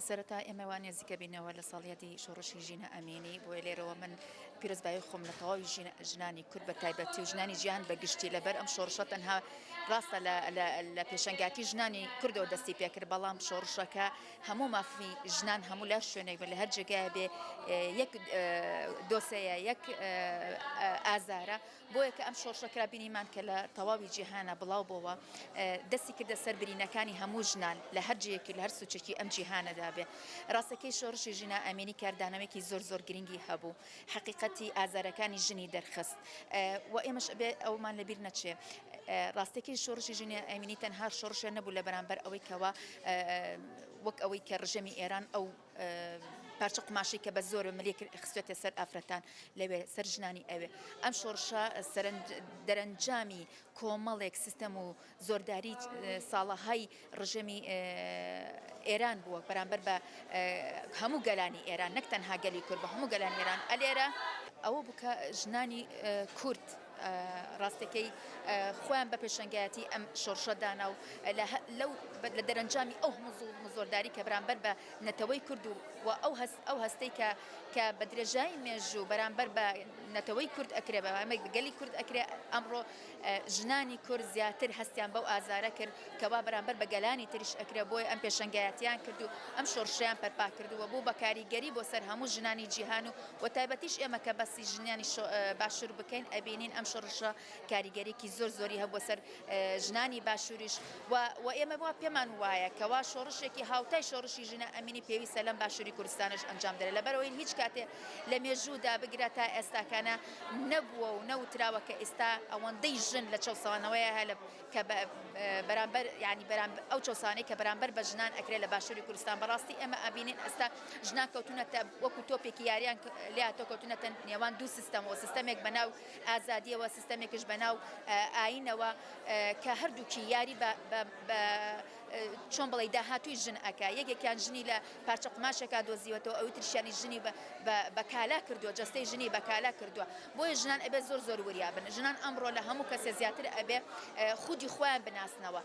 سەرەتا ئێمە وا نێزیکە بینەوە لە ساڵیادی شۆڕشی ژینا ئەمینی بۆیە لێرەوە من پیرۆزبایی خۆم لە تەواوی ژنانی کورد بە تایبەتی و ژنانی جیان بە گشتی لەبەر ئەم شۆڕشە تەنها ڕاستە لە پێشەنگاتی ژنانی کوردەوە دەستی پێکرد بەڵام شۆڕشەکە هەموو مافی ژنان هەموو لە شوێنێک بە لە هەر جێگای بێ یەک دۆسەیە یەک ئازارە بۆیە کە ئەم شۆڕشە کرا بینیمان کە لە تەواوی جیهانا بڵاو بۆوە دەستی کردە سەر برینەکانی هەموو ژنان لە هەر جێیەکی لە هەر سوچێکی ئەم جیهانەدا بێ ڕاستەکەی شۆڕشی ژینا ئەمینی کاردانەوەیەکی زۆر زۆر گرنگی هەبوو حەقیقەتی ئازارەکانی ژنی دەرخست و ئێمەش ئەبێ ئەومان لەبیر نەچێ ڕاستەکەی شۆڕشی ژنی ئەمینی تەنها شۆڕشێ نەبوو لە بەرامبەر ئەوەی کەوا وەک ئەوەی کە ڕژێمی ئێران ئەو پارچە قوماشەی کە بە زۆر ملێ خستێتە سەر ئافرەتان لەوێ سەر ژنانی ئەوێ ئەم شۆڕشە دەرەنجامی کۆمەڵێک سیستەم و زۆرداری ساڵەهای ڕژێمی ئێران بووە بەرامبەر بە هەموو گەلانی ئێران نەک تەنها گەلی کورد بە هەموو گەلان ئێران ئەلێرە ئەوە بکە ژنانی کورد ڕاستەکەی خۆیان بە پێشەنگایەتی ئەم شۆرشە دانا و لەو لە دەرەنجامی ئەو مزۆرداری کە بەرامبەر بە نەتەوەی کرد و و ئەو هەست ئەو هەستەی کە کە بە درێژایی مێژوو بەرامبەر بە نەتەوەی کورد ئەکرێ بەمەێک گەلی کورد ئەکرێ ئەمڕۆ ژنانی کورد زیاتر هەستیان بەو ئازارە کرد کەوا بەرامبەر بە گەلانی تریش ئەکرێ بۆی ئەم پێشنگایەتیان کرد و ئەم شۆرشیان پەرپا کردووە بۆ بەکاریگەری بۆ سەر هەموو ژنانی جیهان و وە تایبەتیش ئێمە کە باسی ژنانی باشور بکەین ئەبینین ئەم شڕشە کاریگەریکی زۆر زۆری هەبووە سەر ژنانی باشوریش و ئێمە وا پێمان وایە کەوا شۆڕشێکی هاوتای شۆڕشی ژنە ئەمینی پێویستە لەم باشوری کوردستانش ئەنجام دەێت لەبەرەوەی هیچ کاتێ لە مێژوودا بگرە تا ئێستاکانە نەبووە و نەوتراوە کە ئێستا ئەوەندەی ژن لە چەسەوانەوەیە هەلب کە بە بەرامبەر یانی بەرام ئەو چەسانەی کە بەرامبەر بە ژنان ئەکرێت لە باشووری کوردستان بەڕاستی ئێمە ئەبینین ئەستا ژنان کەوتونەتە وەکو تۆپێکی یاریان لاتۆ کەوتونەتە نێوان دوو سیستەمەوە سیستەمێک بەناو ئازادیەوە سیستەمێکش بەناو ئاینەوە کە هەردووکی یاری بە چۆن بڵێی داهاتووی ژن ئەکا یەکێکیان ژنی لە پارچە قوماشێکا دۆزیوەتەوە ئەوی ترشیانی ژنی بە کالا کردووە جەستەی ژنی بە کالا کردووە بۆیە ژنان ئەبێ زۆر زۆر وریا بن ژنان ئەمڕۆ لە هەموو کەسێ زیاتر ئەبێ خودی خۆیان بناسنەوە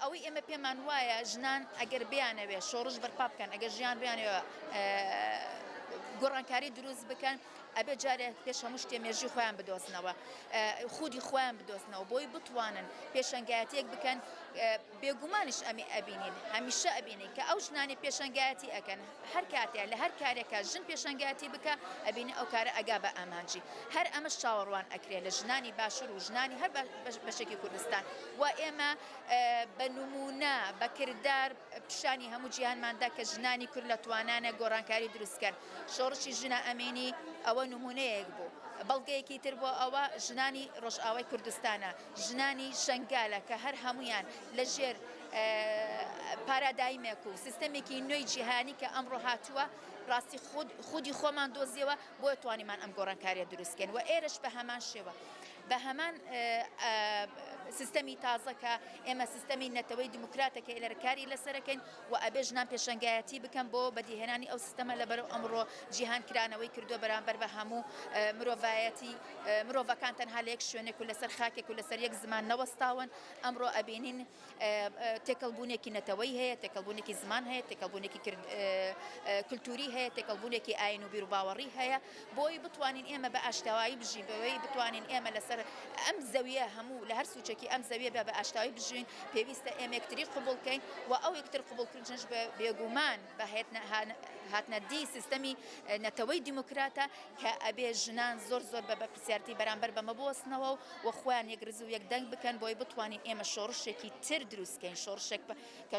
ئەوەی ئێمە پێمان وایە ژنان ئەگەر بیانەوێ شۆڕش بەرپا بکەن ئەگەر ژیان بیانەوە گۆڕانکاری دروست بکەن ئەبێت جارێ پێش هەموو شتێ مێژووی خۆیان بدۆزنەوە خودی خۆیان بدۆزنەوە بۆی بتوانن پێشەنگایەتیەک بکەن بێگومانیش ئەمی ئەبینین هەمیشە ئەبینین کە ئەو ژنانی پێشەنگایەتی ئەەکەن هەر کاتێ لە هەر کارێکە ژن پێشەنگایەتی بکە ئەبینی ئەو کارە ئەگا بە ئامانجی هەر ئەمە چاوەڕوان ئەکرێت لە ژنانی باشور و ژنانی هەر بەشێکی کوردستان و ئێمە بە نمونە بەکردار پیشانی هەموو جیهانماندا کە ژنانی کورد لە توانانە گۆڕانکاری دروستکەن شۆڕشی ژنە ئەمینی ئەوە نموونەیەک بوو، بەڵگەیەکی تر بۆ ئەوە ژنانی ڕۆژئاوای کوردستانە، ژنانی شەنگالە کە هەر هەموویان لە ژێر پارادایمێک و سیستەمێکی نوێی جیهانی کە ئەمڕۆ هاتووە ڕاستی خود خودی خۆمان دۆزیەوە بۆیە توانیمان ئەم گۆڕانکاریە دروستکەین و ئێرش بە هەمان شێوە بە هەمان سیستەمی تازە کە ئێمە سیستەمی نەتەوەی دیموکراتەکە ئێلەرکاری لەسەرەکەین وە ئەبێ ژنان پێشەنگایەتی بکەن بۆ بەدیهێنانی ئەو سیستەمە لەبەرو ئەمڕۆ جیهان کرانەوەی کردوە بەرامبەر بە هەموو مرۆڤایەتی مرۆڤەکان تەنها لە یەک شوێنێک و لەسەر خاکێک و لەسەر یەک زمان نەوەستاون ئەمڕۆ ئەبینین تێکەڵ بونێکی نەتەوەی هەیە تێکەڵ بونێکی زمان هەیە تێکەڵ بونێکی کلتوری هەیە تێکەڵ بونێکی ئاین و بیروباوەڕی هەیە بۆی بتوانین ئێمە بە ئاشتەوایی بژین بەوەی بتوانین ئێمە لەسەر ئەم زەویە هەموو لە هەر سوچەکی ئەم زەویە بە بە ئاشتەوایی بژین پێویستە ئێمە یەکتری قبول کەین و ئەو یەکتر قبول کردنش بە بێگومان بە هاتنە دی سیستەمی نەتەوەی دیموکراتە کە ئەبێ ژنان زۆر زۆر بە بەپرسیارتی بەرامبەر بەمە بوەستنەوە و خۆیان یەک رز و یەک دەنگ بکەن بۆی بتوانین ئێمە شۆڕشێکی تر دروستکەین شۆڕشێک کە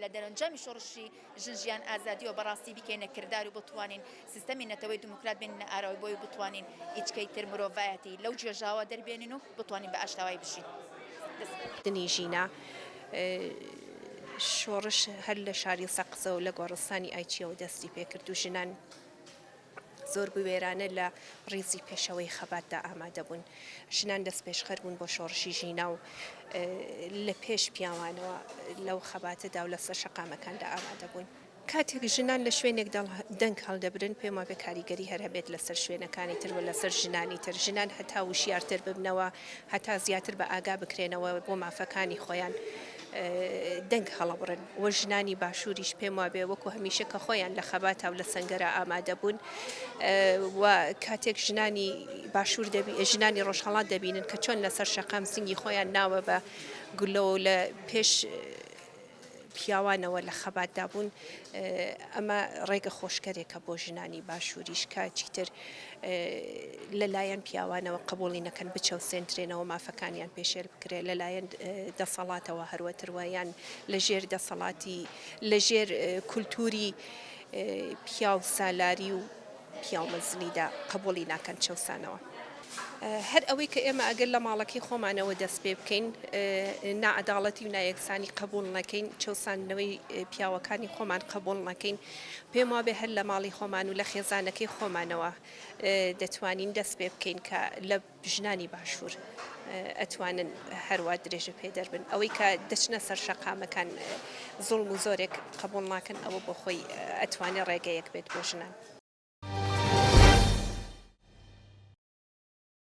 لە دەرەنجامی شۆڕشی ژن ژیان ئازادی و بەڕاستی بیکەینە کردار و بتوانین سیستەمی نەتەوەی دیموکرات بێنینە ئاراوەی بۆی و بتوانین ئیچکەی تر مرۆڤایەتی لەو گێژاوە دەربێنین و بتوانین بە ئاشتاوایی بژین. دەست. دنی ژینا شۆڕش هەر لە شاری سەقزەو لە گۆڕستانی ئایچیەوە دەستی پێکرد و ژنان. زۆر بوێرانە لە ڕیزی پێشەوەی خەباتدا ئامادەبوون. ژنان دەستپێشخەر بوون بۆ شۆڕشی ژینا و لە پێش پیاوانەوە لەو خەباتەدا و لەسەر شەقامەکاندا ئامادەبوون. کاتێک ژنان لە شوێنێک دەنگ هەڵدەبرن، پێم وابێت کاریگەری هەر هەبێت لەسەر شوێنەکانی تر و لەسەر ژنانی تر، ژنان هەتا وشیارتر ببنەوە، هەتا زیاتر بە ئاگا بکرێنەوە بۆ مافەکانی خۆیان دەنگ هەڵەبڕن و ژنانی باشووریش پێم وابێ وەکو هەمیشە کە خۆیان لە خەباتا و لە سنگەرە ئامادە بوون و کاتێک ژنانی باشوور دەبی ژنانی ڕۆژهڵات دەبینن کە چۆن لەسەر شەقام سنگی خۆیان ناوە بە گولەوە لە پێش پیاوانەوە لە خەباتدا بوون، ئەمە ڕێگە خۆشکەرێکە بۆ ژنانی باشووریش کە چیتر لەلایەن پیاوانەوە قبوڵی نەکەن بچەوسێندرێنەوە مافەکانیان پێشێل بکرێت لەلایەن دەسەڵاتەوە هەروەتروە یان لە ژێر دەسەڵاتی لە ژێر کولتوری پیاو سالاری و پیاو مەزنیدا قەبووڵی ناکەن چەوسانەوە هەر ئەوەی کە ئێمە ئەگەر لە ماڵەکەی خۆمانەوە دەست پێ بکەین نائەداڵەتی و نایەکسانی قبول نەکەین چەساندنەوەی پیاوەکانی خۆمان قبول نەکەین پێم وابێ هەر لە ماڵی خۆمان و لە خێزانەکەی خۆمانەوە دەتوانین دەست پێ بکەین کە لە ژنانی باشوور ئەتوانن هەروا درێژە پێدەر بن، ئەوەی کە دەچنە سەر شەقامەکان زوڵم و زۆرێک قەبووڵ ناکەن ئەوە بۆ خۆی ئەتوانێ ڕێگەیەک بێت بۆ ژنان.